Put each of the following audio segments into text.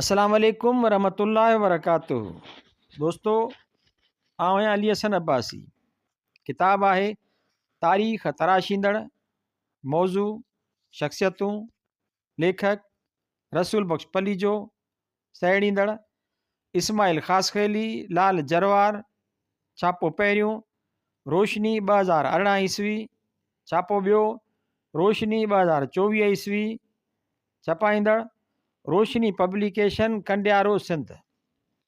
السلام عليڪم ورحمة الله وبرڪاته دوستو آئون آهيان علي حسن عباسي ڪتاب آهي تاريخ تراشيندڙ موضوع شخصيتون ليکڪ رسول بخش پليجو سهيڙيندڙ اسماعيل خاصخيلي لال جروار ڇاپو پهريون روشني ٻه هزار ارڙهن عيسوي ڇاپو ٻيو روشني ٻه هزار چوويهه عيسوي ڇپائيندڙ، روشني پبليڪيشن ڪنڊيارو سنڌ،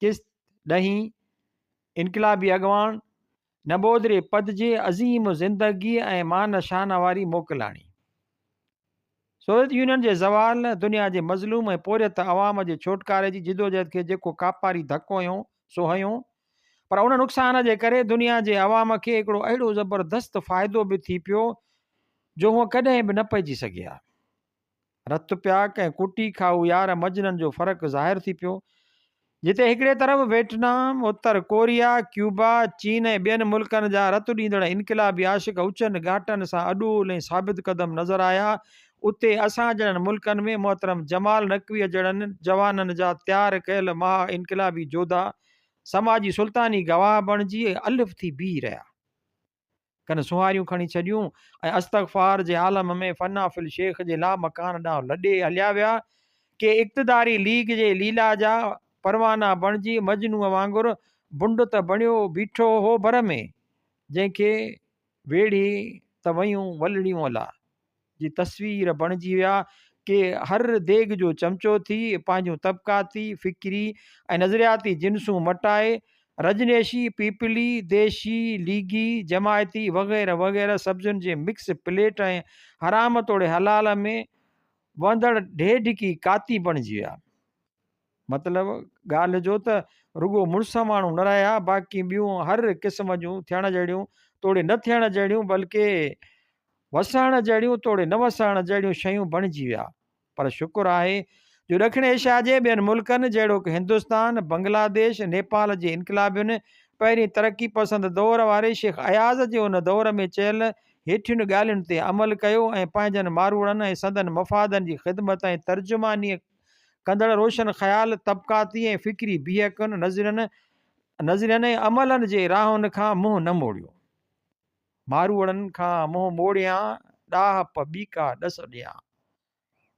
قسط، ڏهين، انقلابي اڳواڻ، نبودري پد جي عظيم زندگيء ۽ مان شان واري موڪلاڻي. سوويت يونين جي زوال، دنيا جي مظلوم ۽ پورهيت عوام جي ڇوٽڪاري جي جدوجهد کي جيڪو ڪاپاري ڌڪو هنيو، سو هنيو، پر ان نقصان جي ڪري دنيا جي عوام کي هڪڙو اهڙو زبردست فائدو به ٿي پيو، جو هو ڪڏهن به نه پئجي سگهيا. رت پياڪ ۽ ڪوٽي کائو يار مجنن جو فرق ظاهر ٿي پيو، جتي هڪڙي طرف ويٽنام، اتر ڪوريا، ڪيوبا، چين ۽ ٻين ملڪن جا رت ڏيندڙ انقلابي عاشق اچن ڳاٽن سان اڏول ۽ ثابت قدم نظر آيا، اتي اسان جهڙن ملڪن ۾ محترم جمال نقويء جهڙن جوانن جا تيار ڪيل مها انقلابي جوڌا سماجي سلطاني گواهه بڻجي الف ٿي بيهي رهيا. ڪن سونهاريون کڻي ڇڏيون ۽ استغفار جي عالم ۾ فنا في الشيخ جي لامڪان ڏانهن لڏي هليا ويا ڪي اقتداري ليگ جي ليلا جا پروانا بڻجي مجنوء وانگر بنڊ ته بڻيو بيٺو هو ڀر ۾ جنهن کي ويڙهي ته ويون ولڙيون الا جي تصوير بڻجي ويا ڪي هر ديڳ جو چمچو ٿي پنهنجون طبقاتي، فڪري ۽ نظرياتي جنسون مٽائي رجنيشي، پيپلي، ديشي، ليگي، جماعتي وغيره وغيره سبزين جي مڪس پليٽ ۽ حرام توڙي حلال ۾ وهندڙ ڍيڍڪي ڪاتي بڻجي ويا. مطلب ڳالهه جو ته رڳو مڙس ماڻهو نه رهيا باقي ٻيون هر قسم جون ٿيڻ جهڙيون توڙي نه ٿيڻ جهڙيون بلڪه وسائڻ جهڙيون توڙي نه وسائڻ جهڙيون شيون بڻجي ويا پر شڪر آهي جو ڏکڻ ايشيا جي ٻين ملڪن جهڙوڪ هندستان بنگلاديش نيپال جي انقلابين پهرين ترقي پسند دور واري شيخ اياز جي ان دور ۾ چيل هيٺين ڳالهين تي عمل ڪيو ۽ پنهنجن ماروئڙن ۽ سندن مفادن جي خدمت ۽ ترجمانيء ڪندڙ روشن خيال طبقاتي ۽ فڪري بيهڪن، نظرين نظرين ۽ عملن جي راهن کان منهن نه موڙيو. ماروئڙن کان منهن موڙيان، ڏاهپ ٻيڪا ڏس ڏيان.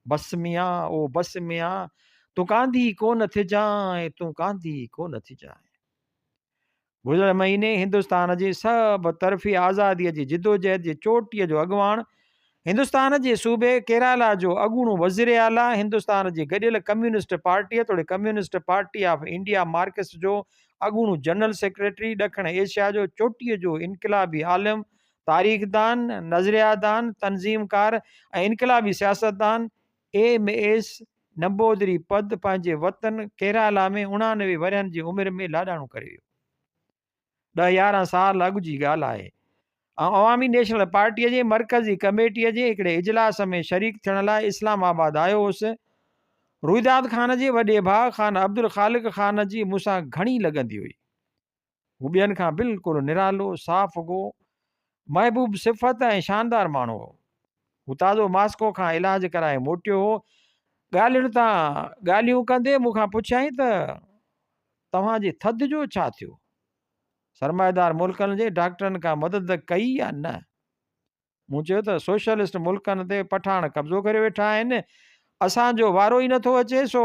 بس ميان او بس ميان، تون ڪانڌي ڪونه ٿجانء، تون ڪانڌي ڪونه ٿجانء. گذريل مهيني هندستان جي سڀ طرفي آزادي جي جدوجهد جي چوٽي جو اڳواڻ هندستان جي صوبي ڪيرالا جو اڳوڻو وزير اعليٰ هندستان جي گڏيل ڪميونسٽ پارٽي توڙي communist party of India Marxist جو اڳوڻو جنرل سيڪريٽري ڏکڻ ايشيا جو چوٽي جو انقلابي عالم تاريخدان نظريادان تنظيمڪار ۽ انقلابي سياستدان ايم ايس نمبودري پد پنهنجي وطن ڪيرالا ۾ اڻانوي ورهين جي عمر ۾ لاڏاڻو ڪري ويو. ڏهه يارهن سال اڳ جي ڳالهه آهي. آئون عوامي نيشنل پارٽيء جي مرڪزي ڪميٽيء جي هڪڙي اجلاس ۾ شريڪ ٿيڻ لاء اسلام آباد آيو هوس. روئداد خان جي وڏي ڀاء خان عبدالخالق خان جي مون سان گهڻي لڳندي هئي. هو ٻين کان بلڪل نرالو، صاف گو، محبوب صفت ۽ شاندار ماڻهو هو. هو تازو ماسڪو کان علاج ڪرائي موٽيو هو. ڳالهين تان ڳالهيون ڪندي مون کان پڇيائين ته توهان جي ٿڌ جو ڇا ٿيو؟ سرمائيدار ملڪن جي ڊاڪٽرن ڪا مدد ڪئي يا نه؟ مون چيو ته سوشلسٽ ملڪن تي پٺاڻ قبضو ڪري ويٺا آهن اسان جو وارو ئي نٿو اچي سو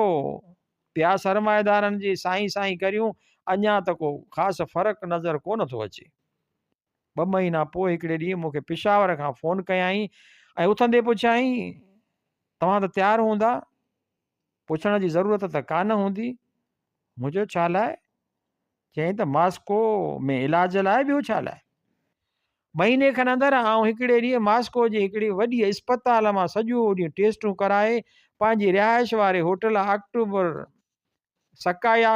پيا سرمائيدارن جي سائين سائين ڪريون اڃا ته ڪو خاص فرق نظر ڪو نٿو اچي ٻه مهينا پوء هڪڙي ڏينهن مونکي پشاور کان فون ڪيائين ۽ اٿندي پڇيائين توهان ته تيار هوندا پڇڻ جي ضرورت ته ڪا نه هوندي. مون چيو ڇا لاء؟ چيائين ته ماسڪو ۾ علاج لاء ٻيو ڇا لاء؟ مهيني کن اندر آئون هڪڙي ڏينهن ماسڪو جي هڪڙي وڏي اسپتال مان سڄو ڏينهن ٽيسٽون ڪرائي پنهنجي رهائش واري هوٽل آڪٽوبر سڪايا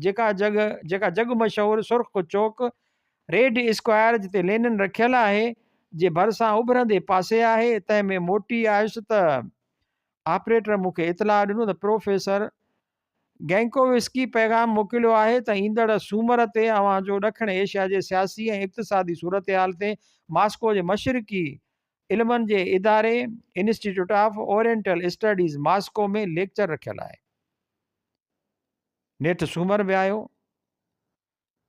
جيڪا جڳ جيڪا جڳ مشهور سرخ چوڪ ريڊ اسڪوائر جتي لينن رکيل آهي جي ڀرسان اڀرندي پاسي آهي تنهن ۾ موٽي آيس ته آپريٽر مون کي اطلاع ڏنو ته پروفيسر گينڪووسڪي پيغام موڪليو آهي ته ايندڙ سومر تي اوهان جو ڏکڻ ايشيا جي سياسي ۽ اقتصادي صورتحال تي ماسڪو جي مشرقي علمن جي اداري institute of oriental studies Moscow ۾ lecture رکيل آهي. نيٺ سومر به آيو.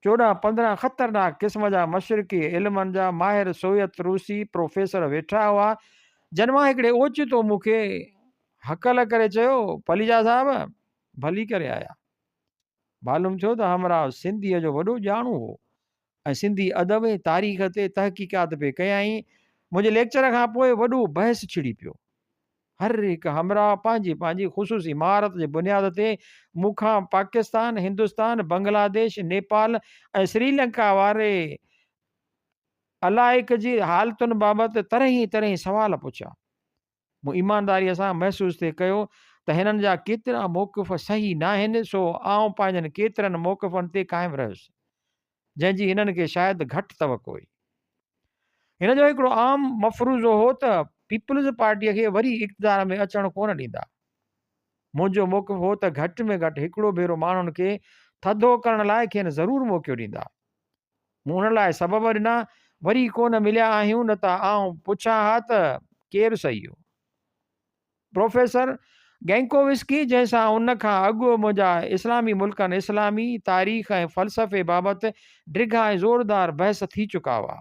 چوڏهن پندرهن خطرناڪ قسم جا مشرقي علمن جا ماهر سويت روسي پروفيسر ويٺا هئا، جن مان هڪڙي اوچتو مون کي هڪل ڪري چيو، پليجا صاحب ڀلي ڪري آيا. معلوم ٿيو ته همراهه سنڌيء جو وڏو ڄاڻو هو ۽ سنڌي ادب ۽ تاريخ تي تحقيقات پئي ڪيائين. منهنجي ليڪچر کان پوء وڏو بحث ڇڙي پيو. هر هڪ همراهه پنهنجي پنهنجي خصوصي مهارت جي بنياد تي مون کان پاڪستان، هندستان، بنگلاديش، نيپال ۽ سريلنڪا واري علائق جي حالتن بابت طرحين طرحين سوال پڇيا. مون ايمانداريء سان محسوس ٿي ڪيو ته هنن جا ڪيترا موقف صحيح ناهن سو آئون پنهنجن ڪيترن موقفن تي قائم رهيس. جنهن جي هنن کي شايد گهٽ توقع هئي. هن جو هڪڙو عام مفروضو هو ته پيپلز پارٽيء کي وري اقتدار ۾ اچڻ ڪونه ڏيندا. منهنجو موقف هو ته گهٽ ۾ گهٽ هڪڙو ڀيرو ماڻهن کي ٿڌو ڪرڻ لاء کين ضرور موقعو ڏيندا. مون ان لاء سبب ڏنا، وري ڪونه مليا آهيون نه ته آئون پڇان ها ته ڪير سهيو؟ پروفيسر گينڪووسڪي جنهن سان ان کان اڳ منهنجا اسلامي ملڪن، اسلامي تاريخ ۽ فلسفي بابت ڊگها ۽ زوردار بحث ٿي چڪا هئا.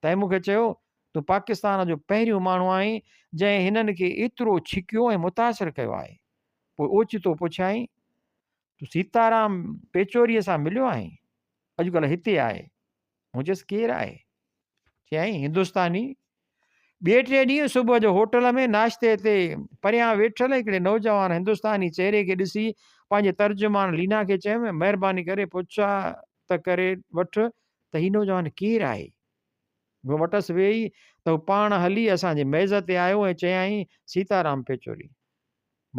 تنهن مون کي چيو، تون پاڪستان جو پهريون ماڻهو آهين جنهن هنن کي ايترو ڇڪيو ۽ متاثر ڪيو آهي. پوء اوچتو پڇيائين، تون سيتارام پيچوريء سان مليو آهين؟ اڄڪلهه هتي آهي. مون چيس ڪير آهي چيائين هندوستاني ٻئي ٽي ڏينهن صبح جو هوٽل ۾ ناشتي تي پريان ويٺل هڪڙي نوجوان هندوستاني چهري کي ڏسي پنهنجي ترجمان لينا کي چيم مهرباني ڪري پڇا ته ڪري وٺ ته هي نوجوان ڪير آهي هو وٽس ويئي ته هو پاڻ هلي اسان جي ميز تي آيو ۽ چيائين سيتارام پيچوري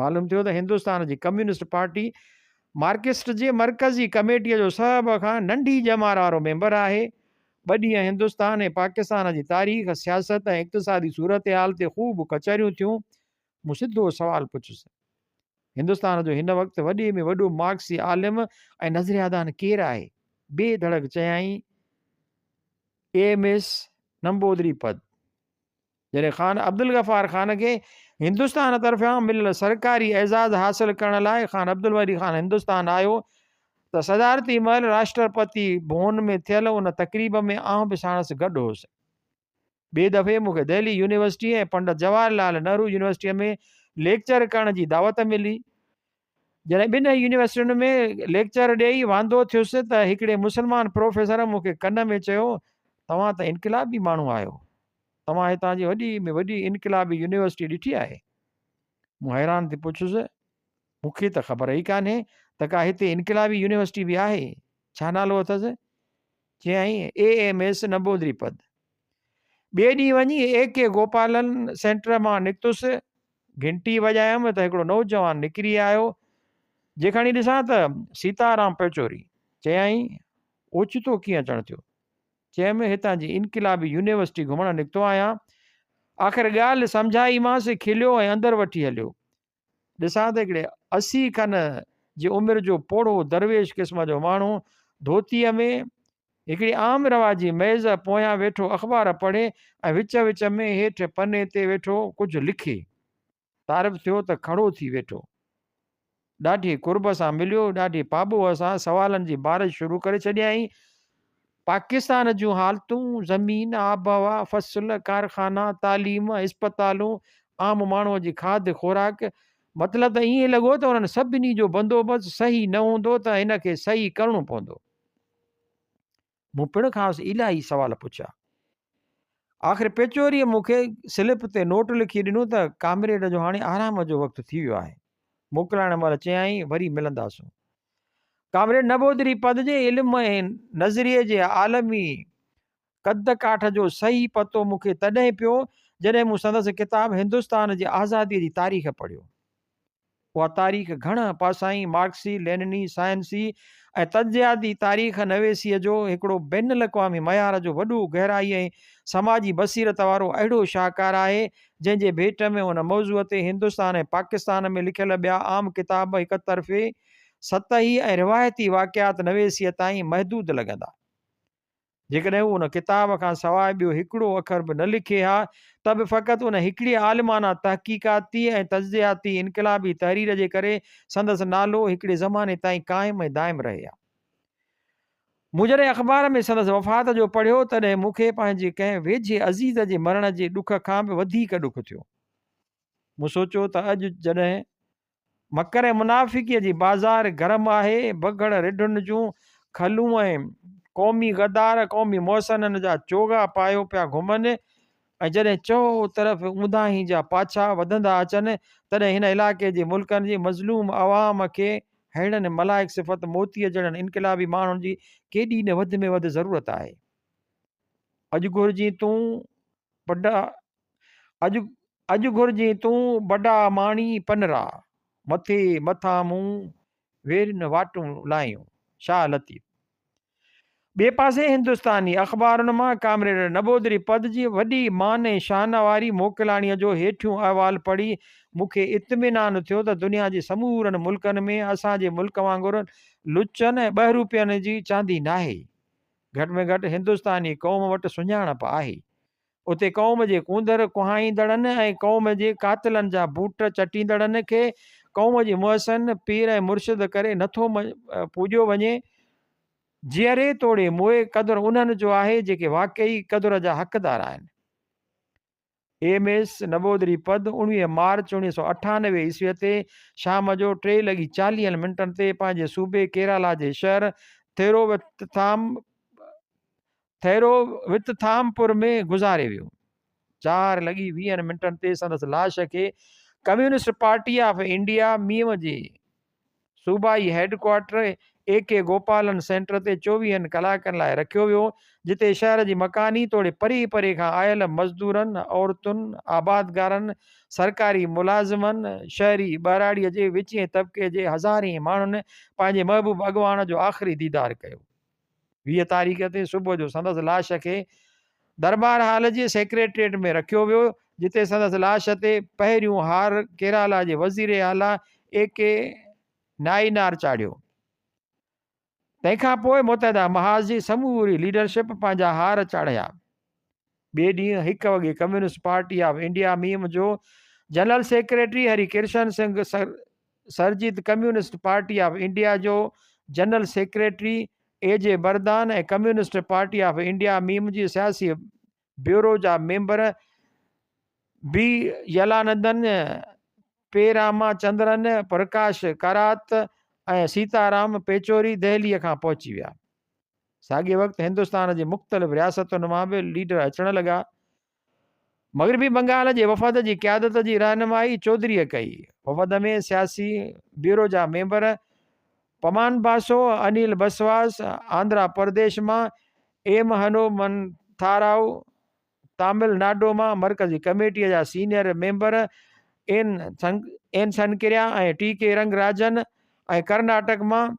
معلوم ٿيو ته هندستان جي ڪميونسٽ پارٽي مارڪسٽ جي مرڪزي ڪميٽيء جو سڀ کان ننڍي ڄمار وارو ميمبر آهي. ٻه ڏينهن هندستان ۽ پاڪستان جي تاريخ، سياست ۽ اقتصادي صورتحال تي خوب ڪچهريون ٿيون. مون سڌو سوال پڇيس، هندستان جو هن وقت وڏي ۾ وڏو مارڪسي عالم ۽ نظريادان ڪير آهي؟ بي ڌڙڪ چيائين، ايم ايس نمبودري پد. جڏهن خان عبدالغفار خان کي هندستان طرفيان مليل سرڪاري اعزاز حاصل ڪرڻ لاء خان عبدالولي خان هندستان آيو ته صدارتي مهل راشٽرپتي ڀون ۾ ٿيل ان تقريب ۾ آئون به ساڻس گڏ هوس. ٻئي دفعي مون کي دهلي يونيورسٽيء ۽ پنڊت جواهر لعل نهرو يونيورسٽيء ۾ ليڪچر ڪرڻ جي دعوت ملي. جڏهن ٻنهي يونيورسٽين ۾ ليڪچر ڏيئي واندو ٿيس ته هڪڙي مسلمان پروفيسر مون کي ڪن ۾ چيو، توهان ته انقلابي ماڻهو آهيو، توهان هتان جي وڏي ۾ وڏي انقلابي يونيورسٽي ڏٺي آهي؟ مون حيران ٿي پڇيس، مون کي ته خبر ئي ڪانهي ته ڪا هتي انقلابي يونيورسٽي به آهي، ڇا نالو اٿس؟ چيائين، E M S Namboodiripad. ٻئي ڏينهن وڃي اي ڪي گوپالن سينٽر مان نڪتس، گهنٽي وڄايم ته هڪڙو نوجوان نڪري آيو، جي کڻي ڏسان ته سيتارام پچوري. چيائين، اوچتو ڪيئن اچڻ ٿيو؟ چيم، هتان جي انقلابي يونيورسٽي گهمڻ نڪتو آهيان. آخر ڳالهه سمجهائيمانس، کليو ۽ اندر وٺي هليو. ڏسان ته هڪڙي اسي کن جي عمر جو پوڙهو درويش قسم جو ماڻهو ڌوتيء ۾ هڪڙي عام رواجي ميز پويان ويٺو اخبار پڙهي ۽ وچ وچ ۾ هيٺ پني تي ويٺو ڪجهه لکي. تعارف ٿيو ته کڙو ٿي ويٺو. ڏاڍي قرب سان مليو، ڏاڍي پاٻوهه سان سوالن جي بارش شروع ڪري ڇڏيائين. پاڪستان جون حالتون، زمين، آبهوا، فصل، ڪارخانا، تعليم، اسپتالون، عام ماڻهوء جي کاڌ خوراڪ، مطلب ته ائين لڳو ته انهن سڀني جو بندوبست صحيح نه هوندو ته هن کي صحيح ڪرڻو پوندو. مون پڻ کانئس الاهي سوال پڇيا. آخر پيچوريء مون کي سلپ تي نوٽ لکي ڏنو ته ڪامريڊ جو هاڻي آرام جو وقت ٿي ويو آهي. موڪلائڻ مهل چيائين وري ملنداسون. ڪامريڊ نمبوڌري پنھنجي علم ۽ نظريي جي عالمي قد ڪاٺ جو صحيح پتو مون کي تڏهن پيو جڏهن مون سندس ڪتاب هندستان جي آزاديء جي تاريخ پڙهيو. اها تاريخ گهڻ پاسائين، مارڪسي، لينني، سائنسي ۽ تجزياتي تاريخ نويسيء جو هڪڙو بين الاقوامي معيار جو وڏو، گهرائي ۽ سماجي بصيرت وارو اهڙو شاهڪار آهي، جنهن جي ڀيٽ ۾ هن موضوع تي هندستان ۽ پاڪستان ۾ لکيل ٻيا عام ڪتاب هڪ طرفي، سطحي ۽ روايتي واقعات نويسيء تائين محدود لڳندا. جيڪڏهن هو ان ڪتاب کان سواء ٻيو هڪڙو اکر به نه لکي ها ته به فقط ان هڪڙي عالمانه تحقيقاتي ۽ تجزياتي انقلابي تحرير جي ڪري سندس نالو هڪڙي زماني تائين قائم ۽ دائم رهي ها. مون جڏهن اخبار ۾ سندس وفات جو پڙهيو تڏهن مون کي پنهنجي ڪنهن ويجهي عزيز جي مرڻ جي ڏک کان به وڌيڪ ڏک ٿيو. مون سوچيو ته اڄ جڏهن مڪر ۽ منافقيء جي بازار گرم آهي، بگهڙ رڍن جون کلون ۽ قومي غدار قومي محسنن جا چوغا پايو پيا گهمن، ۽ جڏهن چؤهون طرف اونداهين جا پاڇا وڌندا اچن، تڏهن هن علائقي جي ملڪن جي مظلوم عوام کي ههڙن ملائڪ صفت موتيء جهڙن انقلابي ماڻهن جي ڪيڏي نه وڌ ۾ وڌ ضرورت آهي. اڄ گهرجين تون بڊا اڄ اڄ گهرجين تون بڊا ماڻي پنرا، مٿي مٿان مون ويرين واٽون لاهيون، شاهه لطيف. ٻئي پاسي هندستاني اخبارن مان ڪامريڊ نبوڌري پد جي وڏي مان ۽ شان واري موڪلاڻيء جو هيٺيون احوال پڙهي مون کي اطمينان ٿيو ته دنيا جي سمورن ملڪن ۾ اسان جي ملڪ وانگر لچن ۽ ٻه روپين جي چاندي ناهي. گهٽ ۾ گهٽ هندستاني قوم وٽ سڃاڻپ آهي. اتي قوم جي ڪونڌر ڪهائيندڙن ۽ قوم جي قاتلن جا بوٽ چٽيندڙن کي قوم جي محسن، پير ۽ مرشد ڪري نه ٿو پوڄيو وڃي. جيئري توڙي موئي قدر انهن جو آهي جيڪي واقعي قدر جا حقدار آهن. ايم ايس نبودري پد اڻويهه مارچ اوڻيهه سؤ اٺانوي عيسوي تي شام جو ٽي لڳي چاليهن منٽن تي پنهنجي صوبي ڪيرالا جي شهر ٿيرووتٿام ٿهرو وتٿامپور ۾ گذاري ويو. چار لڳي ويهن منٽن تي سندس لاش کي ڪميونسٽ پارٽي آف انڊيا ميون جي صوبائي headquarter A K Gopalan centre تي چوويهن ڪلاڪن لاء رکيو ويو، جتي شهر جي مڪاني توڙي پري پري کان آيل مزدورن، عورتن، آبادگارن، سرڪاري ملازمن، شهري ٻهراڙيء جي وچئين طبقي جي هزارين ماڻهن پنهنجي محبوب اڳواڻ جو آخري ديدار ڪيو. ويهه تاريخ تي صبح جو سندس لاش کي درٻار هال جي سيڪريٽريٽ ۾ رکيو ويو، جتي سندس لاش تي پهريون هار ڪيرالا جي وزير اعليٰ اي ڪي نائينار چاڙهيو. تنهن کان پوء متحده محاذ جي سموري ليڊرشپ پنهنجا هار چاڙهيا. ٻئي ڏينهن هڪ وڳي communist party of India M جو جنرل سيڪريٽري هري ڪرشن سنگهه سر Surjeet communist party of India جو جنرل سيڪريٽري اي جي Bardhan ۽ communist party of India M جي سياسي بيورو جا ميمبر بي يلانندن پي راما چندرن پرڪاش ڪارات ۽ سيتا رام پيچوري دهلي کان پهچي ويا ساڳئي وقت هندستان جي مختلف رياستن مان به ليڊر اچڻ لڳا. مغربي بنگال جي وفد جي قيادت جي رهنمائي چوڌريء ڪئي. وفد ۾ سياسي بيورو جا ميمبر پمان باسو، انيل بسواس، آندرا پرديش مان ايم هنومنٿاراو، تامل ناڊو مان مرڪزي ڪميٽيء جا senior member N Sankaraiah ۽ T K Rangarajan ۽ Karnataka مان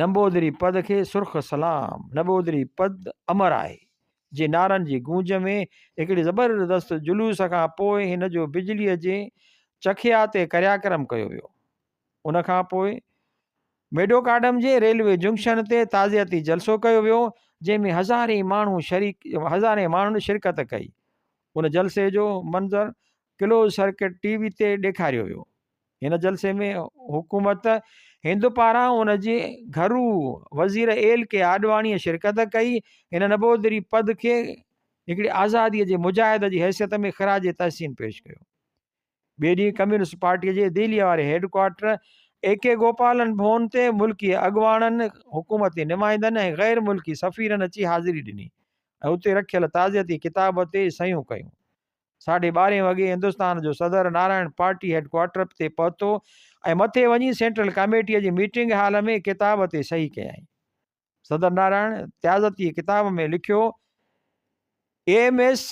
نمبودري پد کي سرخ سلام نمبودري پد امر آهي جي نعرن جي گونج ۾ هڪڙي زبردست جلوس کان پوء هن جو بجلي جي چکيا تي ڪرياڪرم ڪيو ويو ان کان پوء ميڊوڪاڊم جي ريلوي جنڪشن تي تعزيتي جلسو ڪيو ويو جنهن ۾ هزارين ماڻهو شريڪ هزارين ماڻهن شرڪت ڪئي ان جلسي جو منظر ڪلوز سرڪٽ ٽي وي تي ڏيکاريو ويو هن جلسي ۾ حڪومت هند پاران ان جي گهرو وزير ايل ڪي آڏواڻيء شرڪت ڪئي. هن نبوڌري پد کي هڪڙي آزاديء جي مجاهد جي حيثيت ۾ خراج تحسين پيش ڪيو. ٻئي ڏينهن ڪميونسٽ پارٽيء جي دهليء واري headquarter A K Gopalan Bhavan تي ملڪي اڳواڻن، حڪومتي نمائندن ۽ غير ملڪي سفيرن اچي حاضري ڏني ۽ اتي رکيل تعزيتي ڪتاب تي صحيحون ڪيون. ساڍي ٻارهين وڳي هندستان جو صدر نارائڻ پارٽي هيڊ ڪوارٽرپ تي پهتو ۽ مٿي وڃي سينٽرل ڪاميٽيء جي ميٽنگ هال ۾ ڪتاب تي صحيح ڪيائين. صدر نارائڻ تعزتي ڪتاب ۾ لکيو، ايم ايس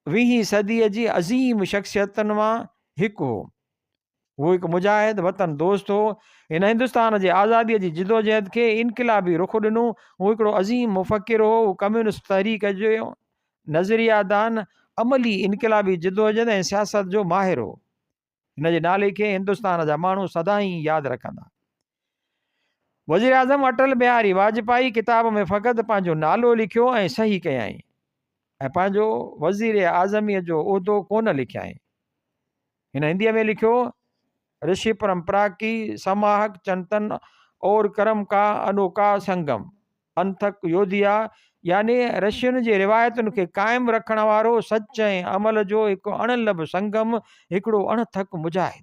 ويهين صديء جي عظيم شخصيتن مان هڪ هو. هو هڪ مجاهد، وطن دوست هو. هن هندستان جي آزاديء جي جدوجهد کي انقلابي رخ ڏنو. هو هڪڙو عظيم مفڪر هو. هو ڪميونسٽ تحريڪ جو نظريا دان، عملي انقلابي جدوجهد ۽ سياست جو ماهر هو. هن جي نالي کي هندستان جا ماڻهو سدائين ياد رکندا. وزيراعظم اٽل بهاري واجپائي ڪتاب ۾ فقط پنهنجو نالو لکيو ۽ صحيح ڪيائين ۽ پنهنجو وزير اعظمي جو عهدو ڪونه لکيائين. هن هندي ۾ لکيو، رشي پرمپرا ڪي سماهڪ چنتن اور ڪرم ڪا انوکا سنگم، انتھڪ يوديا، يعني رشين جي روايتن کي قائم رکڻ وارو سچ ۽ عمل جو هڪ اڻ لڀ سنگم، هڪڙو اڻ ٿڪ مجاهد.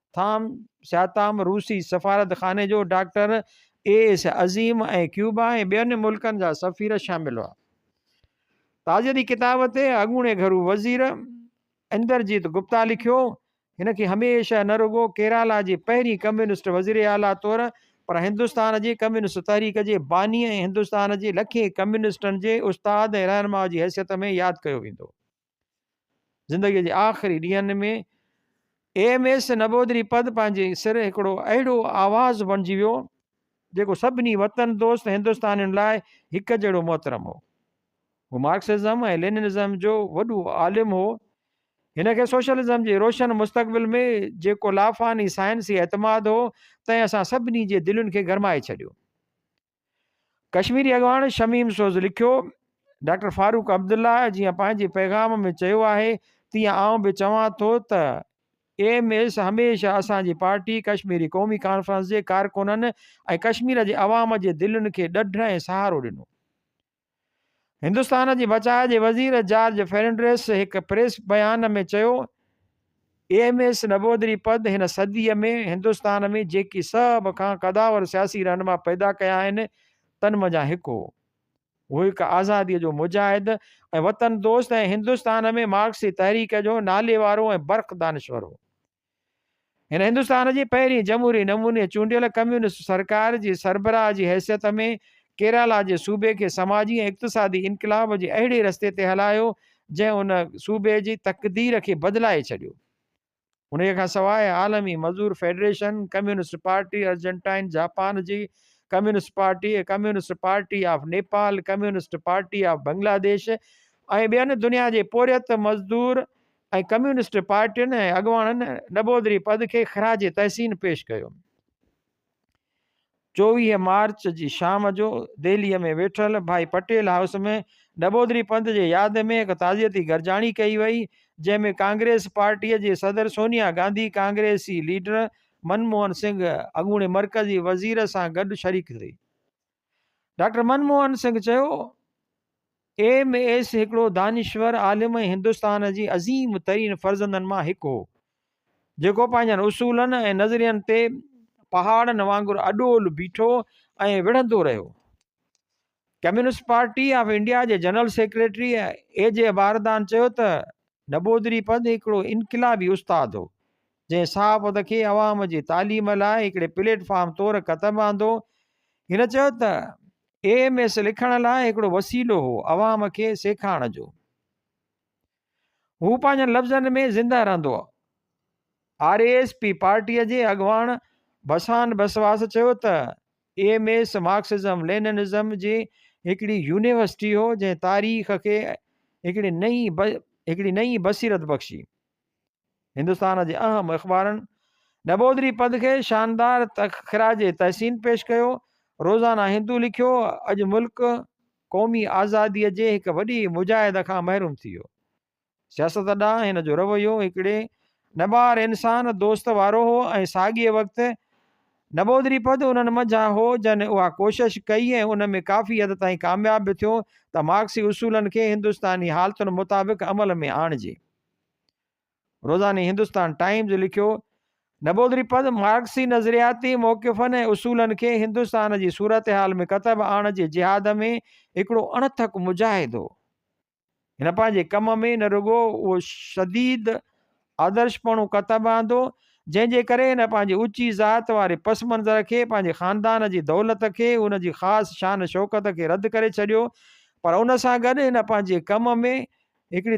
ٿام سياتام روسي سفارت خاني جو doctor A S Azim ۽ Cuba ۽ ٻين ملڪن جا سفير شامل هئا تاجري ڪتاب تي اڳوڻي گهرو وزير اندرجيت گپتا لکيو هن کي هميشه نه رڳو ڪيرالا جي پهرين ڪميونسٽ وزير اعليٰ طور پر هندستان جي ڪميونسٽ تحريڪ جي باني ۽ هندستان جي لکين ڪميونسٽن جي استاد ۽ رهنما جي حيثيت ۾ ياد ڪيو ويندو زندگيء جي آخري ڏينهن ۾ ايم ايس نبودري پد پنهنجي سر هڪڙو اهڙو آواز بڻجي ويو جيڪو سڀني وطن دوست هندوستانين لاء هڪ جهڙو محترم هو هو مارڪسزم ۽ ليننزم جو وڏو عالم هو هن کي سوشلزم جي روشن مستقبل ۾ جيڪو لافاني سائنسي اعتماد هو تنهن اسان سڀني جي دلين کي گرمائي ڇڏيو ڪشميري اڳواڻ شميم سوز لکيو ڊاڪٽر فاروق عبدالله جيئن پنهنجي پيغام ۾ چيو آهي تيئن آئون به چوان ٿو ته ايم ايس هميشه اسان جي پارٽي ڪشميري قومي ڪانفرنس جي ڪارڪنن ۽ ڪشمير جي عوام جي دلين کي ڏڍ ۽ سهارو ڏنو هندستان جي بچاء جي وزير جارج فرنڊريس هڪ پريس بيان ۾ چيو E M S Namboodiripad هن صدي ۾ هندستان ۾ جيڪي سڀ کان قداور سياسي رهنما پيدا ڪيا آهن تن منجهان هڪ هو هو هڪ آزادي جو مجاهد ۽ وطن دوست ۽ هندستان ۾ مارڪسي تحريڪ جو ناليوارو ۽ برخ دانشور هو هن هندستان جي پهرين جمهوري نموني چونڊيل ڪميونسٽ سرڪار جي سربراهه جي حيثيت ۾ ڪيرالا جي صوبي کي سماجي ۽ اقتصادي انقلاب جي اهڙي رستي تي هلايو جنهن ان صوبي جي تقدير کي بدلائي ڇڏيو. انهيء کان سواء عالمي مزور federation, communist party Argentine, Japan جي communist party, communist party of Nepal, communist party of Bangladesh ۽ ٻين دنيا جي پورهيت مزدور ۽ ڪميونسٽ پارٽين ۽ اڳواڻن نبودري پد کي خراج تحسين پيش ڪيو. چوويهه مارچ جي شام جو دهليء ۾ ويٺل ڀائي پٽيل هائوس ۾ نبودري پد جي ياد ۾ هڪ تعزيتي گڏجاڻي ڪئي وئي، جنهن ۾ ڪانگريس پارٽيء جي صدر سونيا گانڌي، ڪانگريسي ليڊر منموهن سنگهه، اڳوڻي مرڪزي وزير سان گڏ شريڪ ٿي. ڊاڪٽر من موهن سنگهه چيو ايم ايس هڪڙو دانشور عالم ۽ هندستان جي عظيم ترين فرزندن مان هڪ هو جيڪو پنهنجن اصولن ۽ نظرين تي پهاڙن وانگر اڏول بيٺو ۽ وڙهندو رهيو ڪميونسٽ پارٽي آف انڊيا جي general secretary A G Bardhan چيو ته نبودري پد هڪڙو انقلابي استاد هو جنهن صحافت کي عوام جي تعليم لاء هڪڙي پليٽ فارم طور قدم آندو. هن چيو ته اي ايم ايس لکڻ لاء هڪڙو وسيلو هو عوام کي سيکارڻ جو. هو پنهنجن لفظن ۾ زنده رهندو. آر ايس پي پارٽي جي اڳواڻ بسان بسواس چيو ته E M S Marxism Leninism جي هڪڙي يونيورسٽي هو جنهن تاريخ کي هڪڙي نئين هڪڙي نئين بصيرت بخشي. هندستان جي اهم اخبارن نبودري پنڌ کي شاندار خراج تحسين پيش ڪيو. روزانه هندو لکيو، اڄ ملڪ قومي آزادي جي هڪ وڏي مجاهد کان محروم ٿي ويو. سياست ڏانهن هن جو رويو هڪڙي نٻار انسان دوست وارو هو ۽ ساڳئي وقت نبودري پنڌ انهن منجهان هو جن اها ڪوشش ڪئي ۽ ان ۾ ڪافي حد تائين ڪامياب به ٿيو ته مارڪسي اصولن کي هندستاني حالتن مطابق عمل ۾ آڻجي. روزاني هندستان ٽائيمز لکيو، نبودري پنٿ مارڪسي نظرياتي موقفن ۽ اصولن کي هندستان جي صورتحال ۾ ڪتب آڻڻ جي جهاد ۾ هڪڙو اڻٿڪ مجاهد هو. هن پنهنجي ڪم ۾ نه رڳو اهو شديد آدرشپڻو ڪتب آندو، جنهن جي ڪري هن پنهنجي اوچي ذات واري پس منظر کي، پنهنجي خاندان جي دولت کي، ان جي خاص شان شوڪت کي رد ڪري ڇڏيو، پر ان سان گڏ هن پنهنجي ڪم ۾ هڪڙي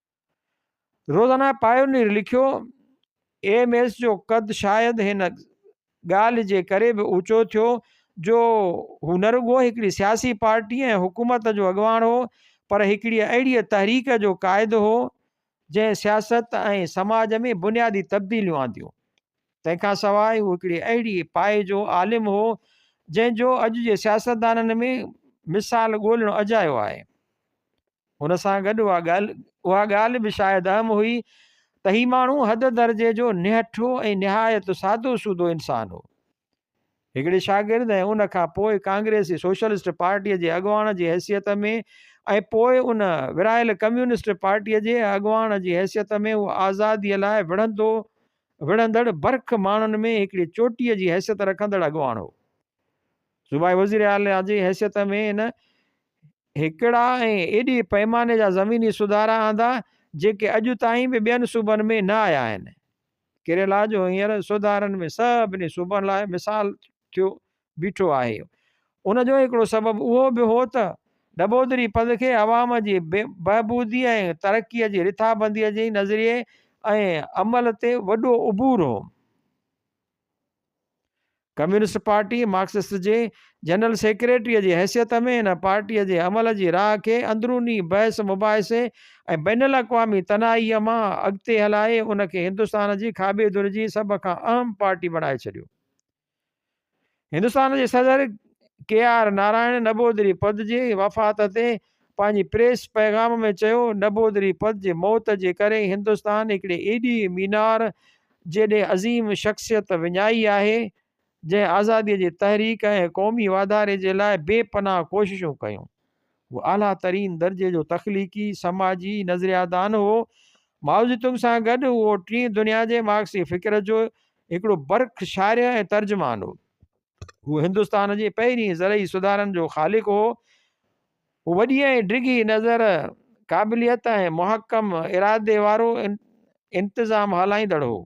روزانه پائونير لکيو، ايم ايس جو قد شايد هن ڳالهه جي ڪري به اوچو ٿيو جو هو نه رڳو هڪڙي سياسي پارٽي ۽ حڪومت جو اڳواڻ هو پر هڪڙيء اهڙيء تحريڪ جو قائد هو جنهن سياست ۽ سماج ۾ بنيادي تبديليون آنديون. تنهن کان سواء هو هڪڙي اهڙي پائي جو عالم هو جنهن جو اڄ جي سياستدانن ۾ مثال ڳولڻ اجايو آهي. هن سان گڏ اها ڳالهه اها ڳالهه به شايد اهم هئي ته هي ماڻهو حد درجي جو نهٺو ۽ نهايت سادو سودو انسان هو. هڪڙي شاگرد ۽ ان کان پوء ڪانگريسي سوشلسٽ پارٽيء جي اڳواڻ جي حيثيت ۾ ۽ پوء ان ورهايل ڪميونسٽ پارٽيء جي اڳواڻ جي حيثيت ۾ هو آزاديء لاء وڙهندو وڙهندڙ برک ماڻهن ۾ هڪڙي چوٽيء جي حيثيت رکندڙ اڳواڻ هو. صوبائي وزيراعليٰ جي حيثيت ۾ هن هڪڙا ۽ ايڏي پئماني جا زميني سڌارا آندا جيڪي اڄ تائين به ٻين صوبن ۾ نه آيا آهن. ڪيريلا جو هينئر سڌارن ۾ سڀني صوبن لاء مثال ٿيو بيٺو آهي. ان جو هڪڙو سبب اهو به هو ته ڏٻودري پنڌ کي عوام جي بهبودي ۽ ترقي جي رٿابندي جي نظريي ۽ عمل تي وڏو عبور هو. ڪميونسٽ پارٽي مارڪسسٽ جي جنرل سيڪريٽريء جي حيثيت ۾ هن پارٽيء جي عمل جي راهه کي اندروني بحث مباحثي ۽ بين الاقوامي تنهائيء مان اڳتي هلائي ان کي هندستان جي کاٻي ڌر جي سڀ کان اهم پارٽي بڻائي ڇڏيو. هندستان جي صدر ڪي آر نارائڻ نبودري پد جي وفات تي پنهنجي پريس پيغام ۾ چيو، نبودري پنت جي موت جي ڪري هندستان هڪڙي ايڏي مينار جيڏي عظيم شخصيت وڃائي آهي، جنهن آزاديء جي تحريڪ ۽ قومي واڌاري جي لاء بي پناهه ڪوششون ڪيون. هو اعليٰ ترين درجي جو تخليقي، سماجي، نظريادان هو. مائوزيتونگ سان گڏ هو ٽين دنيا جي مارڪسي فڪر جو هڪڙو برک شارح ۽ ترجمان هو. هو هندستان جي پهرين زرعي سڌارن جو خالق هو. هو وڏي ۽ ڊگهي نظر، قابليت ۽ محڪم ارادي وارو انتظام هلائيندڙ هو.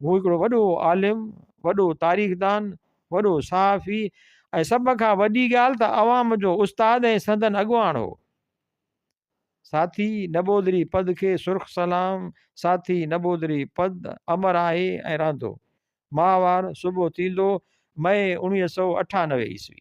هو هڪڙو وڏو عالم، وڏو تاريخدان، وڏو صحافي ۽ سڀ کان وڏي ڳالهه ته عوام جو استاد ۽ سندن اڳواڻ هو. ساٿي نٻودري پد کي سرخ سلام ساٿي نٻودري پد امر آهي ۽ رهندو. ماهوار صبح ٿيندو، مئي اڻويهه سؤ اٺانوي عيسوي.